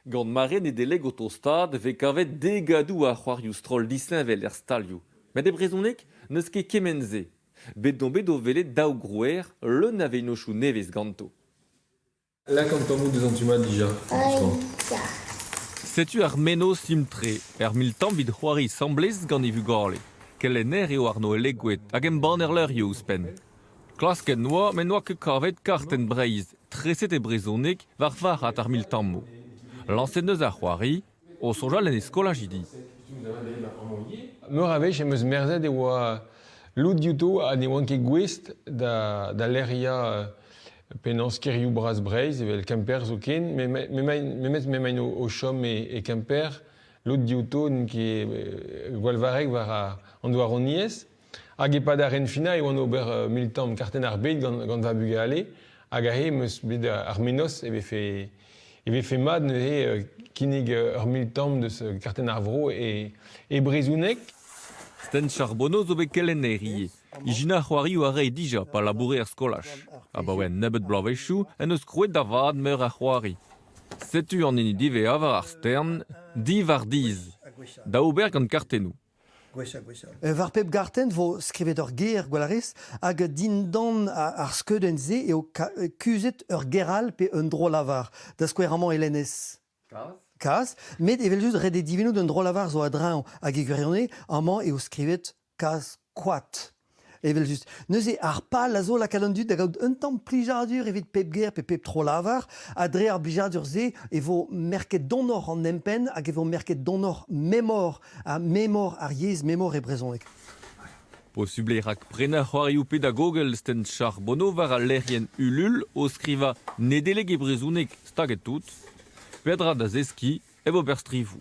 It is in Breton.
Gant mare Nedeleg o tostaat e vez kavet degadoù a c'hoarioù stroll disheñvel er stalioù. Met e brezhoneg n'eus ket kement-se. Bet on bet o welet daou grouer leun a vennozhioù nevez ganto. Lak an tammoù deus an tu-mañ dija, franchement. Setu ar mennozh dim-tre, ur mil tamm evit c'hoari asambles gant e vugale. Kelenner eo Arno Elegouet hag embanner levrioù ouzhpenn. Klasket 'noa met n'oa ket kavet kartenn Breizh treset e brezhoneg war varc'had ar miltammoù. Lañset 'neus ar c'hoari o soñjal en e skolajidi. Meur a wech em eus merzet e oa lod diouto ha ne oant ket gouest da, da lec'hiañ penaos kêrioù bras Breizh evel Kemper zoken, memet m'emaint o, o chom e, e Kemper. Lod diouto n'int ket gwallvarrek war an douaroniezh. Hag e-pad ar renfinañ e oan ober militant kartenn ar bed gant, gant va bugale. Hag aze em eus bet ar menoz e vefe, e vefe mat neuze kinnig ur militant deus kartenn ar vro e, e brezhoneg. Sten Charbonneau zo bet kelenner ivez. Ijinañ c'hoarioù a rae dija pa laboure er skolaj. Abaoe un nebeud bloavezhioù en deus krouet da vat meur a c'hoari. Setu an hini diwezhañ war ar stern, Divardiz, da ober gant kartennoù. War pep gartenn vo skrivet ur ger, gwell a rez, hag dindan ar skeudenn-se eo kuzhet ur ger all pe un dro-lavar, da skouer amañ Elenez. Kaz. Met evel-just, ret eo divinout un dro-lavar zo a-dreñv, hag e gwirionez, amañ eo skrivet kaz koad. Evel-just. Neuze, ar pal a zo lakaat an dud da gaout un tamm plijadur evit pep ger pe pep tro-lavar, ha dre ar blijadur-se e vo merket donoc'h an empenn hag e vo merket donoc'h memor, ha memor ar yezh, memor e brezhoneg. Posubl eo rak prenañ c'hoarioù pedagogel sten Charbonneau war al lec'hienn Ulul o skrivañ Nedeleg e brezhoneg staget tout. Petra da zeskiñ hep ober strivoù.